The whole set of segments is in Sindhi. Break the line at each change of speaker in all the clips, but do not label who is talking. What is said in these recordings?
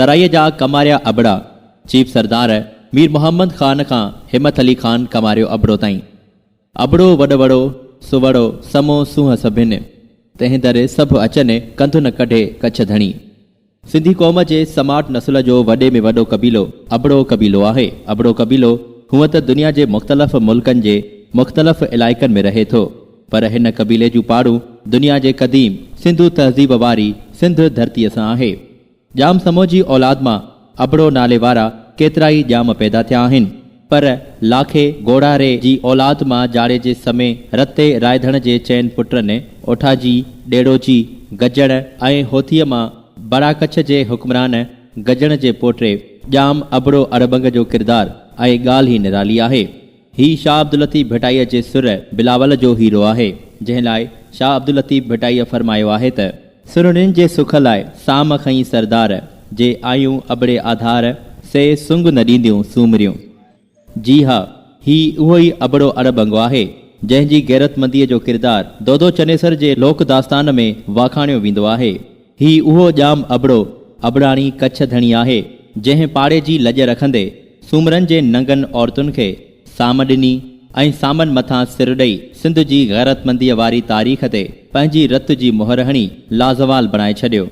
ترائيء جا ڪماريا ابڙا، چيف سردار مير محمد خان کان همٿ علي خان ڪماريو ابڙو تائين. ابڙو وڏ وڙو، سوڙو سمو سونهن سڀن. تنهن در سڀ اچن، ڪنڌن ڪڍي ڪڇ ڌڻي. سنڌي قوم جي سماٽ نسل جو وڏي ۾ وڏو قبيلو ابڙو قبيلو آهي. ابڙو قبيلو هونء ته دنيا جي مختلف ملڪن جي مختلف علائقن ۾ رهي ٿو، پر هن قبيلي جون پاڙون دنيا جي قديم سنڌو تهذيب واري سنڌ ڌرتيء سان آهي. ڄام سمو جي اولاد مان ابڙو نالي وارا ڪيترائي ڄام پيدا ٿيا آهن، پر لاکي گوڙهاري جي اولاد مان جاڙيجي سمي رتي رائڌڻ جي چئن پٽن اوٺاجي، ڏيڙوجي، گجڻ ۽ هوٿيء مان برا ڪڇ جي حڪمران گجڻ جي پوٽي ڄام ابڙو اڙٻنگ جو ڪردار ۽ ڳالهه ئي نرالي آهي. هي شاهه عبداللطيف ڀٽائيء جي سر بلاول جو هيرو آهي، جنهن لاء شاهه عبداللطيف ڀٽائيء فرمايو آهي ته. سرڻين جي سک لاء سام کنئين سردار، جي آيون ابڙي آڌار، سي سنگ نه ڏينديون سومريون. جي ها، هي اهو ئي ابڙو اڻڀنگ آهي، جنهن جي غيرتمنديء جو ڪردار دودو چنيسر جي لوڪ داستان ۾ واکاڻيو ويندو آهي. هي اهو ڄام ابڙو، ابڙاڻي ڪڇ ڌڻي آهي، جنهن پاڙي جي لڄ رکندي، سومرن جي ننگن عورتن کي سام ڏني ۽ سامن مٿان سر ڏئي، سنڌ جي غيرتمنديء واري تاريخ تي پنهنجي رت جي مهر هڻي، لازوال بڻائي ڇڏيو.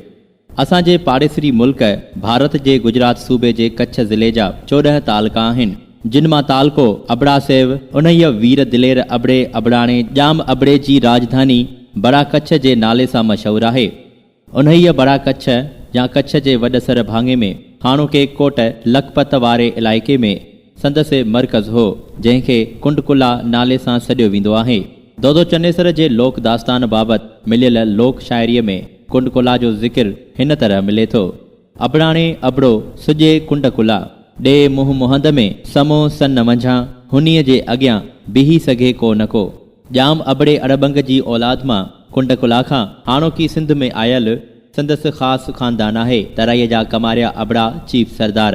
اسان جي پاڙيسري ملڪ ڀارت جي گجرات صوبي جي ڪڇ ضلعي جا چوڏهن تعلقا آهن. جن مان تعلقو ابڙا سيو، انهيء وير دلير ابڙي ابڙاڻي ڄام ابڙي جي راڄڌاني بڙا ڪڇ جي نالي سان مشهور آهي. انهيء بڙا ڪڇ يا ڪڇ جي وڏ سر ڀاڱي ۾ هاڻوڪي ڪوٽ لکپت واري علائقي ۾ سندس مرڪز هو، جنهن کي ڪنڊڪلا نالي سان سڏيو ويندو آهي. دودو چنيسر جي لوڪ داستان بابت مليل لوڪ شاعريء ۾ ڪنڊڪلا جو ذڪر هن طرح ملي ٿو. ابڙاڻي ابڙو، سڄي ڪنڊ ڪلا. ڏي منهن مهند ۾، سمو سن منجهان، هنيء جي اڳيان، بيهي سگهي ڪو نه ڪو. ڄام ابڙي اڙٻنگ جي اولاد مان، ڪنڊ ڪلا کان، هاڻوڪي سنڌ ۾ آيل، سندس خاص خاندان آهي، ترائيء جا ڪماريا ابڙا، چيف سردار.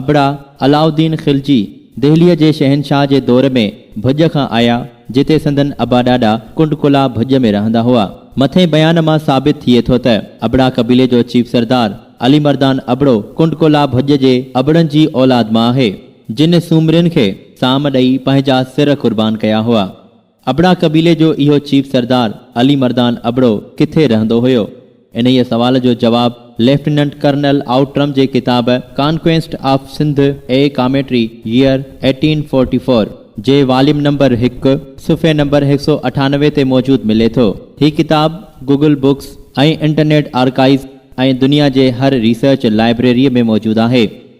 ابڙا علاء الدين خلجي دهليء جي شهنشاهه جي دور ۾ ڀڄ کان آيا، جتي سندن ابا ڏاڏا ڪنڊ ڪلاه ڀڄ ۾ رهندا هئا. مٿين بيان مان ثابت ٿئي ٿو ته ابڙا قبيلي جو چيف سردار علي مردان ابڙو ڪنڊ ڪلاه ڀڄ جي ابڙن جي اولاد مان آهي، جن سومرين کي سام ڏئي پنهنجا سر قربان ڪيا هئا. ابڙا قبيلي جو اهو چيف سردار علي مردان ابڙو ڪٿي رهندو هيو؟ انهيء سوال جو جواب ليفٽيننٽ ڪرنل آئوٽرم جي ڪتاب conquest of Sindh, a commentary, year eighteen forty four, جي واليوم نمبر هڪ، صفحي نمبر هڪ سؤ اٺانوي تي موجود ملي ٿو. هي ڪتاب گوگل بڪس ۽ انٽرنيٽ آرڪائيز ۽ دنيا جي هر ريسرچ لائبريريء ۾ موجود آهي.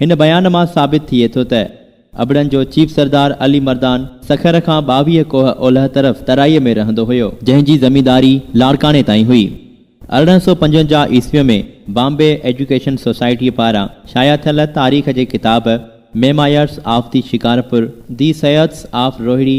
هن بيان مان ثابت ٿئي ٿو ته ابڙن جو چيف سردار علي مردان سکر کان ٻاويهه ڪوهه اولهه طرف ترائي ۾ رهندو هيو، جنهن جي زمينداري لاڙڪاڻي تائين هئي. ارڙهن سؤ پنجونجاهه عيسويء ۾ بامبي ايجوڪيشن سوسائٽيء پاران شايع ٿيل تاريخ جي ڪتاب memoirs of the Shikarpur, the seers of Rohri,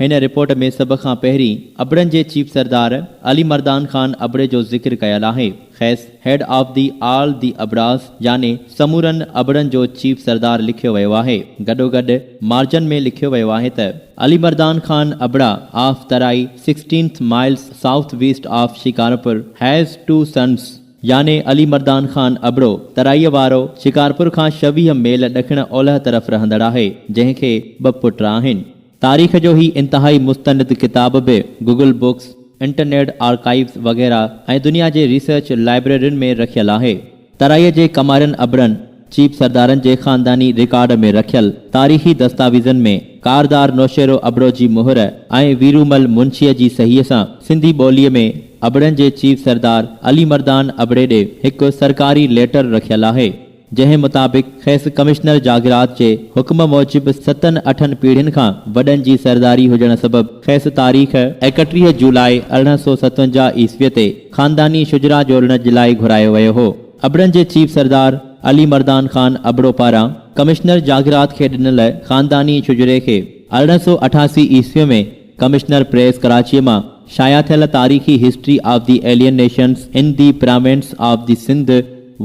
هن رپورٽ ۾ سڀ کان پهرين ابڙن جي چيف سردار علي مردان خان ابڙي جو ذڪر ڪيل آهي. کيس head of the all the Abras يعني سمورن ابڙن جو چيف سردار لکيو ويو آهي. گڏوگڏ مارجن ۾ لکيو ويو آهي ته. علي مردان خان ابڙا of Tarai sixteenth miles south west of Shikarpur has two sons. يعني علي مردان خان ابڙو ترائيء وارو شڪارپور کان ڇويهه ميل ڏکڻ اولهه طرف رهندڙ آهي، جنهن کي ٻه پٽ آهن. تاريخ جو هي انتهائي مستند ڪتاب به گوگل بڪس، انٽرنيٽ آرڪائيوز وغيره ۽ دنيا جي ريسرچ لائبريرين ۾ رکيل آهي. ترائيء جي ڪمارين ابڙن، چيب سردارن جي خانداني رڪارڊ ۾ رکيل تاريخي دستاويزن ۾ ڪاردار نوشيرو ابڙو جي مهر ۽ ويرومل منشيء جي صحيح سان سنڌي ٻوليء ۾ ابڙن جي چيف سردار علي مردان ابڙي ڏي هڪ سرڪاري ليٽر رکيل آهي. جنهن مطابق کيس ڪمشنر جاگيرات جي حڪم موجب ستن اٺن پيڙهين کان وڏن جي سرداري هجڻ سبب کيس تاريخ ايڪٽيهه جولاء ارڙهن سؤ ستونجاهه عيسوي تي خانداني شجرا جوڙڻ جلاء گهرايو ويو هو. ابڙن جي چيف سردار علي مردان خان ابڙو پاران ڪمشنر جاگيرات کي ڏنل خانداني شجري کي ارڙهن سؤ اٺاسي عيسوي ۾ ڪمشنر پريس ڪراچيء مان شايع ٿيل تاريخي history of the alien nations in the province of the Sindh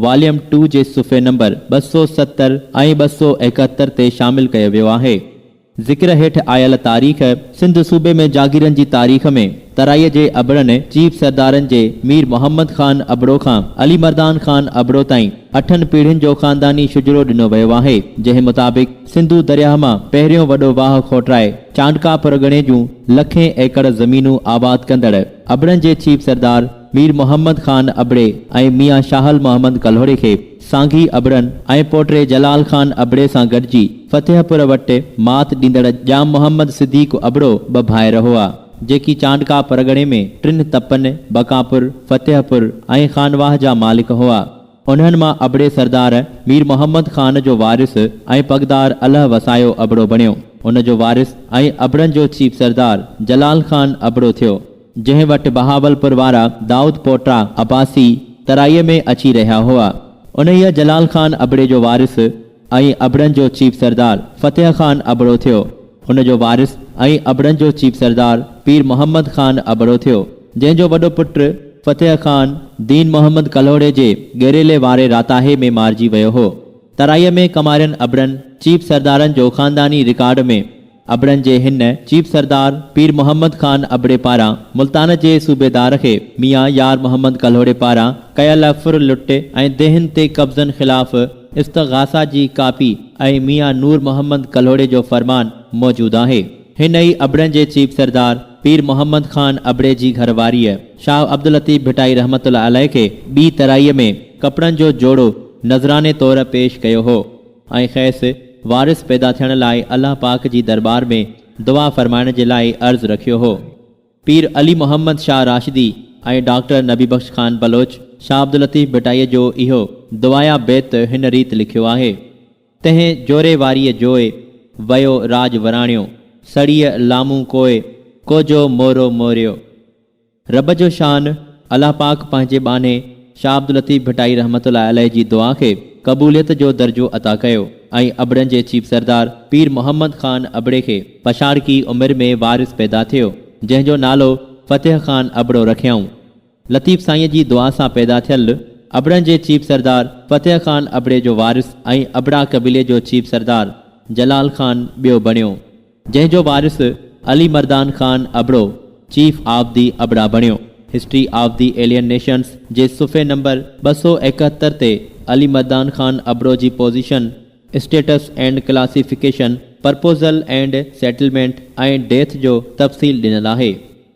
volume two جي صفحي نمبر ٻه سؤ ستر ۽ ٻه سؤ ايڪهتر تي شامل ڪيو ويو آهي. ذڪر هيٺ آيل تاريخ سنڌ صوبي ۾ جاگيرن جي تاريخ ۾ ترائي جي ابڙن چيف سردارن جي مير محمد خان ابڙو کان علي مردان خان ابڙو تائين اٺن پيڙهين جو خانداني شجرو ڏنو ويو آهي جنهن مطابق سنڌو درياهه مان پهريون وڏو واهه کوٽرائي چانڊڪا پرڳڻي جون لکين ايڪڙ زمينون آباد ڪندڙ ابڙن جي چيف سردار مير محمد خان ابڙي ۽ ميان شاهل محمد ڪلهوڙي کي سانگي ابڙن ۽ پوٽي جلال خان ابڙي سان گڏجي فتح پور وٽ مات ڏيندڙ ڄام محمد صديق ابڙو ٻه ڀائر هئا جيڪي چانڊڪا پرڳڻي ۾ ٽن تپن بڪاپور، فتح پور ۽ خانواهه جا مالڪ هئا. انهن مان ابڙي سردار مير محمد خان جو وارث ۽ پڳدار الهه وسايو ابڙو بڻيو. ان جو وارث ۽ ابڙن جو چيف سردار جلال خان ابڙو ٿيو. جنهن وٽ بهاولپور وارا دائود پوٽا، عباسي، ترائيء ۾ اچي رهيا هئا. انهيء جلال خان ابڙي جو وارث، ۽ ابڙن جو چيف سردار فتح خان ابڙو ٿيو. هن جو وارث ۽ ابڙن جو چيف سردار پير محمد خان ابڙو ٿيو، جنهن جو وڏو پٽ فتح خان دين محمد ڪلهوڙي جي گيريلي واري راتاهي ۾ مارجي ويو هو. ترائيء ۾ ڪمارين ابڙن چيف سردارن جو خانداني رڪارڊ ۾. ابڙن جي هن چيف سردار پير محمد خان ابڙي پاران ملتان جي صوبيدار کي ميان يار محمد ڪلهوڙي پاران ڪيل ڦر لٽ ۽ ديهن تي قبضن خلاف استغاثه جي ڪاپي ۽ ميان نور محمد ڪلهوڙي جو فرمان موجود آهي. هن ئي ابڙن جي چيف سردار پير محمد خان ابڙي جي گهر واريء شاهه عبداللطيف ڀٽائي رحمة الله عليه کي ٻي ترائيء ۾ ڪپڙن جو جوڙو نذراني طور پيش ڪيو هو. ۽ خيس وارث پيدا ٿيڻ لاء الله پاڪ جي درٻار ۾ دعا فرمائڻ جي لاء عرض رکيو هو. پير علي محمد شاهه راشدي ۽ ڊاڪٽر نبي بخش خان بلوچ شاهه عبداللطيف ڀٽائيء جو اهو دعايا بيت هن ريت لکيو آهي، تنهن جوري واريء جوء، ويو راڄ وراڻيو، سڙيء لامون ڪوء، ڪوجو مورو موريو. رب جو شان، الله پاڪ پنهنجي ٻانهي شاهه عبداللطيف ڀٽائي رحمة الله عليه جي دعا کي قبوليت جو درجو عطا ڪيو ۽ ابڙن جي چيف سردار پير محمد خان ابڙي کي پڇاڙڪي عمر ۾ وارث پيدا ٿيو جنهن جو نالو فتح خان ابڙو رکيائون. لطيف سائينء جي دعا سان پيدا ٿيل ابڙن جي چيف سردار فتح خان ابڙي جو وارث ۽ ابڙا قبيلي جو چيف سردار جلال خان ٻيو بڻيو. جنهن جو وارث Ali Mardan Khan Abro chief of the Abra بڻيو. History of the alien nations جي صفحي نمبر ٻه سؤ ايڪهتر تي علي مردان خان ابڙو جي position, status and classification, proposal and settlement ۽ death جو تفصيل ڏنل آهي.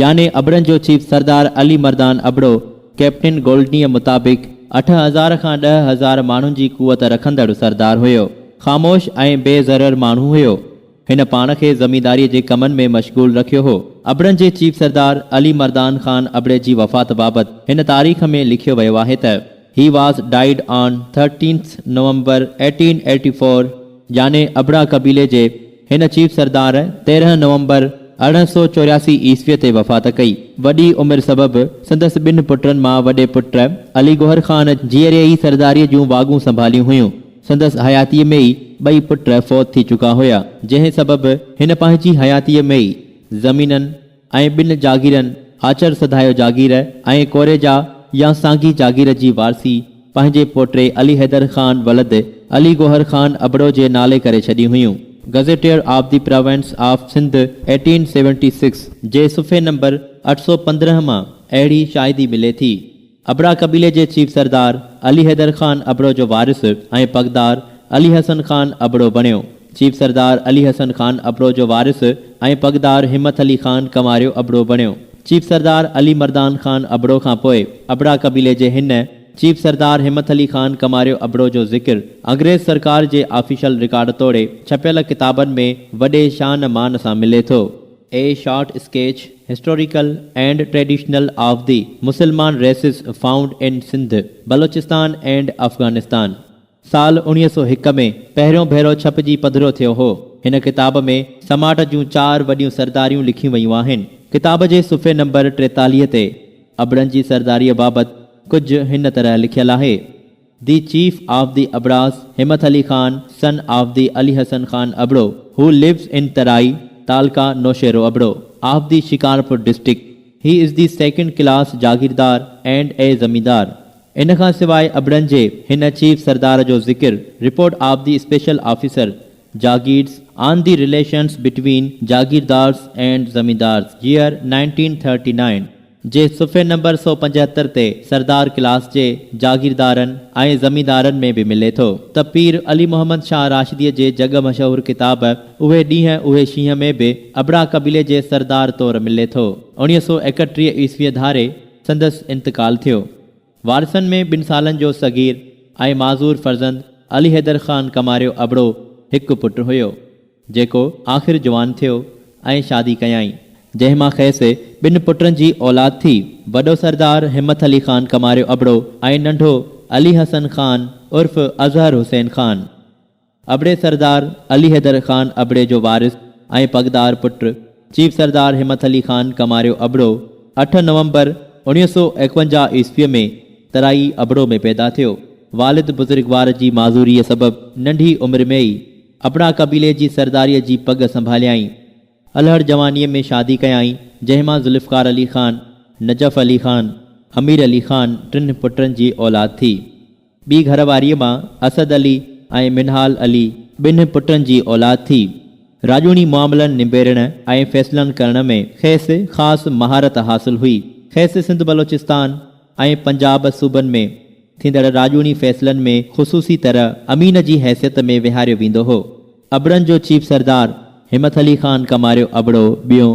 يعني ابڙن جو چيف سردار علي مردان ابڙو ڪئپٽن گولڊنيء مطابق اٺ هزار کان ڏهه هزار ماڻهن جي قوت رکندڙ سردار هيو. خاموش ۽ بي ضرر ماڻهو هيو. هن پاڻ کي زمينداريء جي ڪمن ۾ مشغول رکيو هو. ابڙن جي چيف سردار علي مردان خان ابڙي جي وفات بابت هن تاريخ ۾ لکيو ويو آهي ته، He was died on thirteenth November eighteen eighty four يعني ابڙا قبيلي جي هن چيف سردار تيرهن نومبر ارڙهن سؤ چورياسي عيسويء تي وفات ڪئي. وڏي عمر سبب سندس ٻن پٽن مان وڏي پٽ علي گوهر خان جيئري ئي سرداريء جون واڳون سنڀاليون هيون. سندس حياتيء ۾ ئي ٻئي پٽ فوت ٿي چڪا هيا، جنهن سبب هن پنهنجي حياتيء ۾ ئي زمينن، ۽ ٻن جاگيرن آچر سڌايو جاگير ۽ ڪوريجا يا سانگي جاگير جي وارثي پنهنجي پوٽي علي حيدر خان ولد علي گوهر خان ابڙو جي نالي ڪري ڇڏيون هيون. Gazetteer of the province of Sindh eighteen seventy six جي صفحي نمبر اٺ سؤ پندرهن مان اهڙي شاهدي ملي ٿي. ابڙا قبيلي جي چيف سردار علي حيدر خان ابڙو جو وارث ۽ پڳدار علي حسن خان ابڙو بڻيو. چيف سردار علي حسن خان ابڙو جو وارث ۽ پڳدار همت علي خان ڪنواريو ابڙو بڻيو. چيف سردار علي مردان خان ابڙو کان پوء ابڙا قبيلي جي هن چيف سردار همت علي خان ڪنواريو ابڙو جو ذڪر انگريز سرڪار جي آفيشل رڪارڊ توڙي ڇپيل ڪتابن ۾ وڏي شان مان سان ملي ٿو. A short sketch, historical and traditional of the Musalman races found in Sindh, Baluchistan and Afghanistan. سال اوڻيهه سؤ هڪ ۾ پهريون ڀيرو ڇپجي پڌرو ٿيو هو. هن ڪتاب ۾ سماٽ جون چار وڏيون سرداريون لکيون ويون آهن. ڪتاب جي صفحي نمبر ٽيتاليهه تي ابڙن جي سرداريء بابت ڪجهه هن طرح لکيل آهي. The chief of the Abras Himmat Ali Khan son of the Ali Hassan Khan Abro who lives in Tarai taluka Naushahro Abro of the Shikarpur district he is the second class jagirdar and a zamindar ان کان سواء ابڙن جي هن چيف سردار جو ذڪر report of the special officer jagirs on the relations between jagirdars and zamindars year nineteen thirty nine. جي صفحي نمبر سؤ پنجهتر تي سردار ڪلاس جي جاگيردارن ۽ زميندارن ۾ به ملي ٿو ته پير علي محمد شاهه راشديء جي جڳ مشهور ڪتاب اهي ڏينهن اهي شينهن ۾ به ابڙا قبيلي جي سردار طور ملي ٿو. اوڻيهه سؤ ايڪٽيهه عيسويء ڌاري سندس انتقال ٿيو. وارثن ۾ ٻن سالن جو صغير ۽ معذور فرزند علي حيدر خان ڪماريو ابڙو هڪ پٽ هيو، جيڪو آخر جوان ٿيو ۽ شادي ڪيائين، جنهن مان کيس ٻن پٽن جي اولاد ٿي، وڏو سردار همت علي خان ڪماريو ابڙو ۽ ننڍو علي حسن خان عرف اظهر حسين خان. ابڙي سردار علي حيدر خان ابڙي جو وارث ۽ پڳدار پٽ چيف سردار همت علي خان ڪماريو ابڙو اٺ نومبر اوڻيهه سؤ ايڪونجاهه عيسويء ۾ ترائي ابڙو ۾ پيدا ٿيو. والد بزرگوار جي معذوريء سبب ننڍي عمر ۾ ئي ابڙا قبيلي جي سرداريء جي پڳ سنڀاليائين. الهڙ جوانيء ۾ شادي ڪيائين، جنهن مان ذوالفقار علي خان، نجف علي خان، امير علي خان ٽن پٽن جي اولاد ٿي. ٻي گهر واريء مان اسد علي ۽ منهال علي ٻنهن پٽن جي اولاد ٿي. راڄوڻي معاملن نبيرڻ ۽ فيصلن ڪرڻ ۾ کيس خاص مهارت حاصل هئي. کيس سنڌ بلوچستان ۽ پنجاب صوبن ۾ ٿيندڙ راڄوڻي فيصلن ۾ خصوصي طرح امين جي حيثيت ۾ ويهاريو ويندو هو. ابڙن جو چيف سردار همٿ علي خان ڪماريو ابڙو ٻيون.